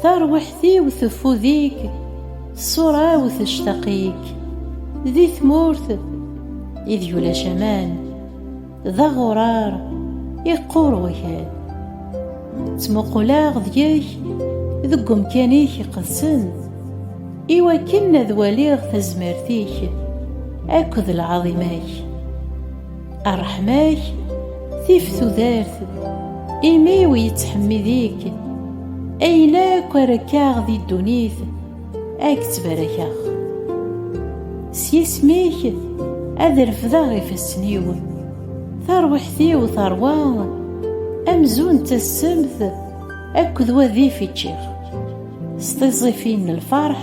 Tarwiḥt-iw teffud-ik, ṣṣura-w tectaq-ik, di tmurt ideg ulac aman, d aɣurar iqqur wakal. Ttmuquleɣ deg-k deg umkan-ik iqedsen, iwakken ad waliɣ tazmert-ik akked lɛaḍima-k. Arḥem-ak, tif tudert, imi-w yettḥemmid-ik, ayen akk ara kaɣ di ddunit, ad k-ttbarakeɣ. S yisem-ik ad refdeɣ ifassen-iw, tarwiḥt-iw terwa amzun d tassemt akked wadif i ččiɣ, s tiẓẓifin n lferḥ,